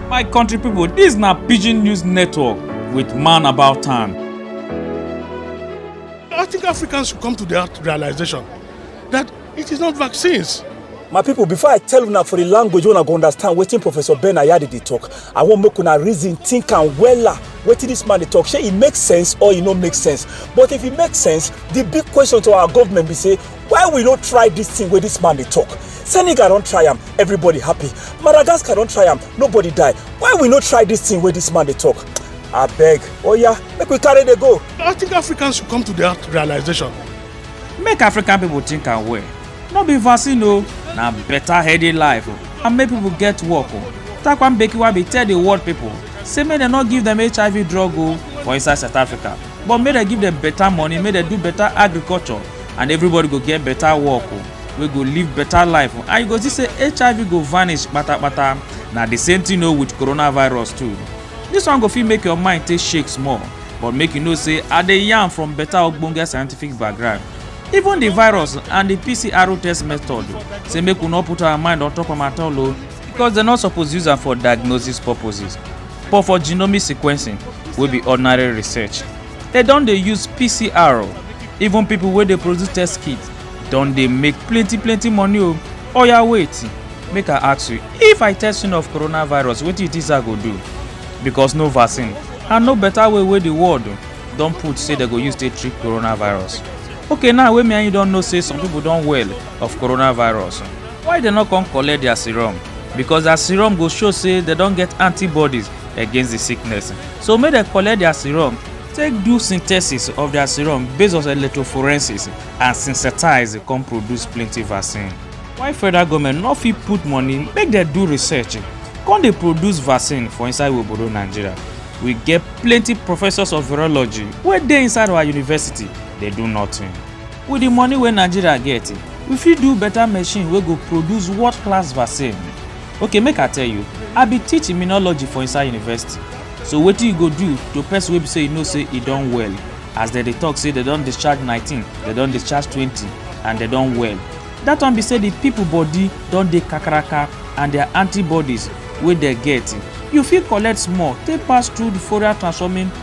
My country people, this na Pidgin News Network with Man About Town. I think Africans should come to that realization that it is not vaccines. My people, before I tell una for the language una go understand wetin Professor Ben Ayade dey talk, I wan make una reason, think am wella wetin this man dey talk. Shey e make sense or e no make sense? But if e make sense, the big question to our government be say why we no try this thing where this man they talk senegal don't try him. everybody happy madagascar don't try him. nobody die why we no try this thing where this man they talk I beg. Oh yeah, make we carry the go i think africans should come to that realization make african people think and well no be vaccine o na better healthy life o and make people get work o takwan bekiwa be tell the world people say make dem no give them hiv drug o for inside south africa but make dem give dem better money make dem do better agriculture and everybody go get better work o oh, wey go live better life oh. and you go see say hiv go vanish patapata na the same thing o oh, with coronavirus too this one go fit make your mind take shake small but make you know say i dey yarn from better ogbonge scientific background even the virus and the pcr test method say make we no put our mind on top am at all o because dem no suppose use am for diagnosis purposes but for genomic sequencing wey be ordinary research dem don dey use pcr o even people wey dey produce test kit don dey make plenty plenty money o oya wait make i ask you if i test you of coronavirus wetin you think say i go do because no vaccine and no better way wey the world don put say dem go use take treat coronavirus okay now wey me and you don know say some people don well of coronavirus. Why dem no come collect their serum? Because their serum go show say dem don get antibodies against the sickness. So make dem collect their serum, take do synthesis of their serum based on electrophorensis and synthesize come produce plenty vaccine. Why federal government no fit put money make dem do research come dey produce vaccine for inside obodo Nigeria? We get plenty professors of virology wey dey inside our university dey do nothing. With the money wey Nigeria get, we fit do better machine wey go produce world class vaccine. Okay make I tell you, I be teach immunology for inside university. So wetin you go do to person wey be say you know say e don well? As dem dey talk say dem don discharge nineteen, dem don discharge twenty and dem don well. That one be say the people body don dey kakaraka and their antibodies wey dem get, you fit collect small take pass through the Fourier transforming